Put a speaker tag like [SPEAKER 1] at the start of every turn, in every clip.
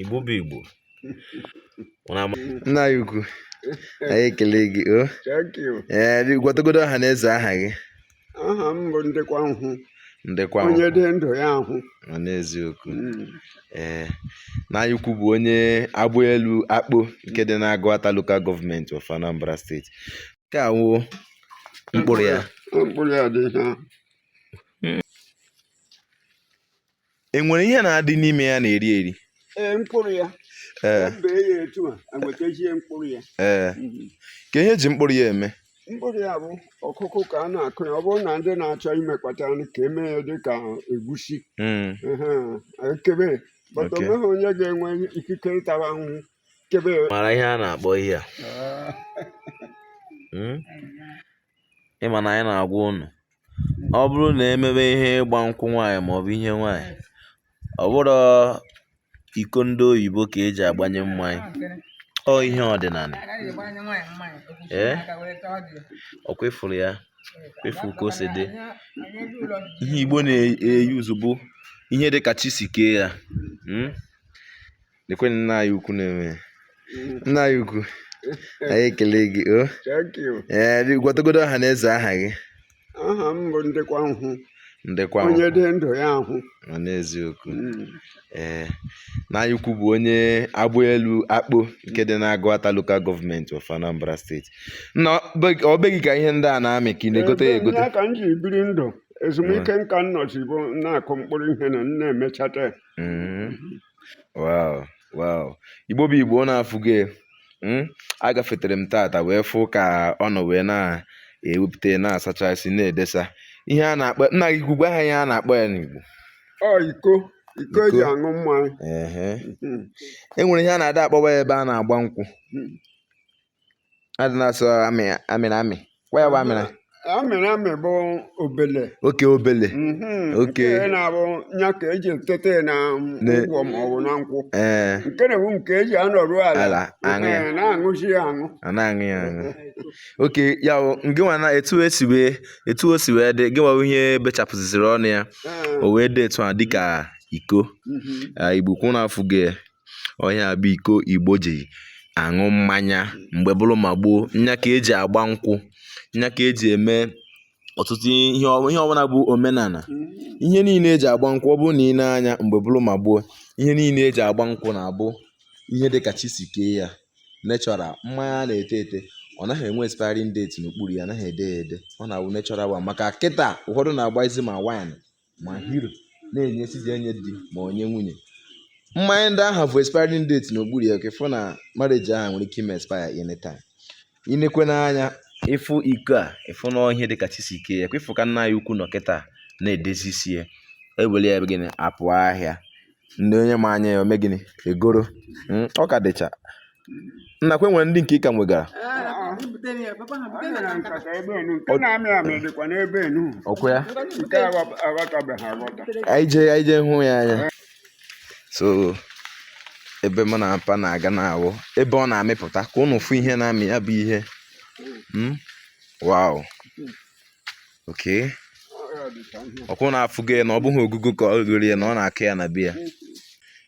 [SPEAKER 1] Igbo bụ Igbo nna anyị ukwu anyị ekele gị o thank
[SPEAKER 2] you. ee eh, gwatagodo ọha na
[SPEAKER 1] eze aha gị aha m bụ
[SPEAKER 2] ndịkwa nhụ ndịkwa
[SPEAKER 1] onye dị ndụ ya
[SPEAKER 2] ahụ n'eziokwu
[SPEAKER 1] hmm. ee eh, nna anyị ukwu bụ onye Agbaelu Akpo nke dị n'Agụata Local Government of Anambra State nke a wụ mkpụrụ ya mkpụrụ ya dị hmm. e nwere ihe na-adị n'ime ya na-eri eri ee mkpụrụ
[SPEAKER 2] ya ee m bee ya etu a enwetazie mkpụrụ ya ee hmm.
[SPEAKER 1] kee ihe eji mkpụrụ ya eme mkpụrụ ya bụ
[SPEAKER 2] ọkụkụ ka a na-akụ ya ọ bụrụ na ndị na-achọ imekwata nri ka eme ya dị ka egusi hmm. ekebe but onweghị onye ga-enwe ikike ịtara ahụhụ kebe ị mara ihe a na-akpọ
[SPEAKER 1] ihe a hmm? ịma na anyị na-agwa ụnụ ọ bụrụ na emebe ihe ịgba nkwụ nwaanyị maọbụ ihe nwaanyị ọ bụrọ iko ndị oyibo ka eji agbanye mmanya ọ ihe ọdịnala ee ọkwa ịfụrụ ya kwa ịfụrụ ka o si dị ihe igbo na-use bụ ihe dị ka chi si kee ya hmm? Lekwe nna anyị ukwu na-eme ya. Nna anyị ukwu, anyị ekele gị o. Thank
[SPEAKER 2] you. Ee, dị- gwatagodo ọha na
[SPEAKER 1] eze aha gị. Aha m bụ
[SPEAKER 2] Ndịkwa Nhụ. Ndịkwa Onye
[SPEAKER 1] dị ndụ ya ahụ.
[SPEAKER 2] nọ n'eziokwu. Mm.
[SPEAKER 1] Ee, nna anyị ukwu bụ onye Agbaelu Akpo nke dị n'Agụata Local Government of Anambra State. Nna ọ be- ọ be gị ka ihe ndị a na-amị ka ị na-egote ya Ebe egote. ya ka m ji biri ndụ
[SPEAKER 2] ezumike nka m nọzi bụ na-akụ mkpụrụ ihe na m na-emechata ya. Mm.
[SPEAKER 1] Wow! Wow! Igbo bụ Igbo ụnụ afụgo hmm? agafetere m taata wee fụ ka ọ nọ wee na-ewepụta na-asachasị na-edesa ihe a na-akpọ nna anyị ukwu gwa ha ihe a na-akpọ ya n'Igbo
[SPEAKER 2] iko iko eji aṅụ mmanya hmm.
[SPEAKER 1] e nwere ihe a na-adị akpọwa ya ebe a na-agba nkwụ hmm. adị na-asụ amị amị na amị kwa ya bụ amị na amị na amị
[SPEAKER 2] bụ obele okay
[SPEAKER 1] obele Mhm.
[SPEAKER 2] Okay. nke na-abụ ya ka eji etete ya na Ne- ngwọ ma ọ bụ na nkwụ ee nke na-ewu nke eji anọrụ ala Ala, aṅụ ya. Ee, na-aṅụzi ya aṅụ ọ na-aṅụ ya
[SPEAKER 1] aṅụ okay ya bụ gị nwa na etu esi wee etu o si wee dị gị nwa bụ ihe bechapụziri ọnụ ya Ee, o wee dị etu a dịka iko mhm. Ah, igbo kwa ụnụ afụgo ya. ọ ihe a bụ iko igbo ji aṅụ mmanya mgbe bụrụ ma gboo nya ka eji agba nkwụ nya ka eji eme ọtụtụ ihe ihe ọbụla bụ omenala ihe niile eji agba nkwụ ọ bụrụ na ị nee anya mgbe bụrụ ma gboo ihe niile eji agba nkwụ na-abụ ihe dị ka chi si kee ya natural mmanya a na-ete ete ọ naghị enwe expiring date n'okpuru ya anaghị ede ya ede ọ na-awụ natural one maka kịta ụfọdụ na-agbazi ma wine ma Hero na-enye sịzi enye di ma onye nwunye mmanya ndị ahụ bu expiring date n'okpuru ya ka ịfụ na marriage ahụ nwere ike ime expire anytime ị nekwa anya ịfụ iko a ịfụ na ihe dịka chi si kee ya kwa ịfụ ka nna ya ukwu nọ kịta na-edezisi ya ewere ya gịnị apụ ahịa ndị onye ma anya ya o mee gịnị egoro hmm, ọ ka dịcha nakwa enwere ndị nke ị ka wegara ọkwa ya anyị jee anyị jee hụ ya anya so ebe mụ na mpa na-aga na-awụ ebe ọ na-amịpụta ka ụnụ fụ ihe na-amị ya bụ ihe hmm? wow okay ọkwa ụnụ afụgo ya na ọ bụghị ogugo ka o goro ya na ọ na-akụ ya na be ya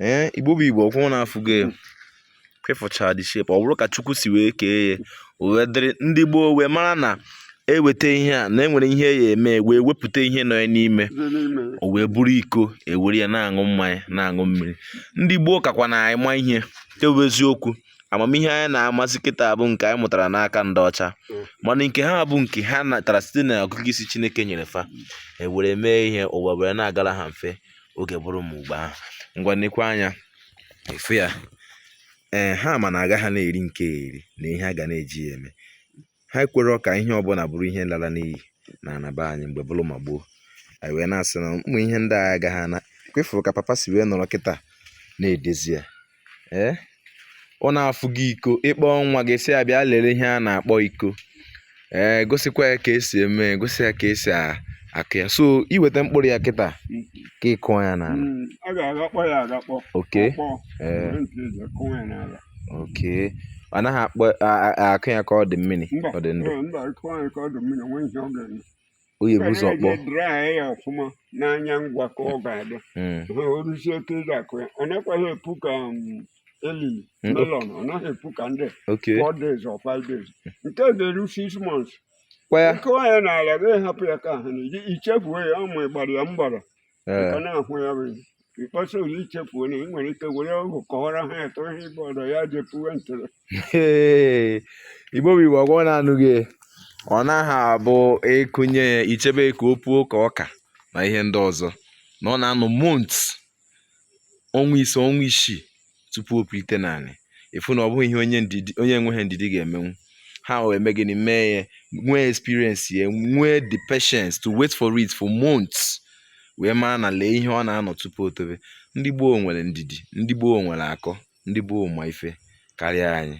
[SPEAKER 1] ee eh, igbo bụ igbo ọkwa ụnụ afụgo ya ị fụcha the shape ọ bụrụ ka chukwu si wee kee ya o wee dịrị ndị gboo wee mara na eweta ihe a na enwere ihe a ya-eme wee wepụta ihe nọ ya n'ime o wee bụrụ iko ewere ya na-aṅụ mmanya na-aṅụ mmiri ndị gboo kakwa na anyị ma ihe ọ wụ eziokwu amamihe anyị na-amasị kịta bụ nke anyị mụtara n'aka ndị ọcha mm. mana nke ha bụ nke ha natara site na ọgụgụ isi chineke nyere fa ewere mee ihe ụwa were na-agara ha mfe oge bụrụ mgbe ahụ ngwa nekwa anya ị fụ ya ee ha ma na aga ha na-eri nke eri na ihe a ga na-eji ya eme ha ekwerọ ka ihe ọbụla bụrụ ihe lara n'iyi n'ana be anyị mgbe bụrụ ma gboo anyị wee na-asị na ụmụ ihe ndị a agaghị ana kwa ị fụrụ ka papa si wee nọrọ kịta na-edezi ya ee eh? ụnụ afụgo iko ị kpọọ nwa gị sị ya bịa lere ihe a na-akpọ iko ee eh, gosikwa ya ka esi eme gosi ya ka esi akụ ya so i weta mkpụrụ ya kịta ka ị kụọ ya n'ala
[SPEAKER 2] hmm,
[SPEAKER 1] okay eh. okay ọ naghị akpọ akụ ya ka ọ dị mmiri ọ dị ndụ ọ ya-ebu ụzọ kpọọ dry ya
[SPEAKER 2] ọfụma n'anyanwụ ka ọ ga-adị hmm. ha o ruzie oge ị ga-akụ ya ọ nakwaghị epu ka um, elili hmm. melon ọ naghị epu ka ndị four days or five days nke a ga-eru six months ị kụọ ya n'ala gị hapụ ya ka ha na-eji i chefuo ya ụmụ ịgbara ya mgbara ka na-ahụ ya bụ mkpọsa ụlọ i chefuo na ị nwere ike were ọgwụ kọwara ha eto ihe ịbụ ọdọ ya jepuwe ntụrụ
[SPEAKER 1] igbo bụ igbo ọkwa ụnụ anụgo ọ naghị abụ ị kụnye ya i chebe ka o puo ka ọka na ihe ndị ọzọ na ọ na-anọ months ọnwa ise ọnwa isii tupu o pulite n'ala ịfụ na ọ bụghị ihe onye ndidi onye enweghị ndidi ga-emenwu ha wee mee gịnị mee ya nwee experience ya nwee the patience to wait for it for months wee maa na lee ihe ọ na-anọ tupu o tobe ndị gboo nwere ndidi ndị gboo nwere akọ ndị gboo ma ife karịa anyị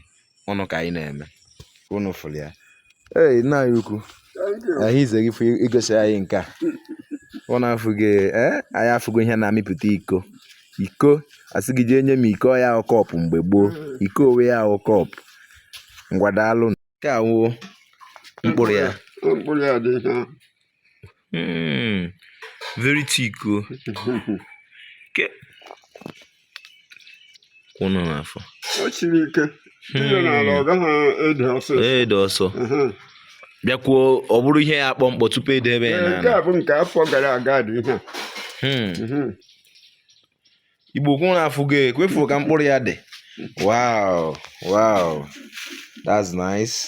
[SPEAKER 1] ụnụ ka anyị na-eme ụnụ fụrụ ya ee nna anyị ukwu ahụ ize gị igosi anyị nke a ụnụ afụghị ee anyị afụgo ihe na-amịpụta iko iko a sị gị jee nye m iko ya wụ cup mgbe gboo iko owe ya wụ cup ngwa daalụ nke a wụ mkpụrụ ya Hmm. Very thick o. Ke. Kwụ nọ n'afọ. O siri ike.
[SPEAKER 2] Tinye n'ala ọ gaghị ere ọsọ. Ere ọsọ.
[SPEAKER 1] Bịakwuo ọ bụrụ ihe ya akpọ mkpọ tupu e debe ya n'ala. Nke a bụ nke afọ
[SPEAKER 2] gara aga dị ihe a. Hmm. Mhm.
[SPEAKER 1] Igbo kwụ n'afọ gị ekwefuru ka mkpụrụ ya dị. Wow, wow, that's nice.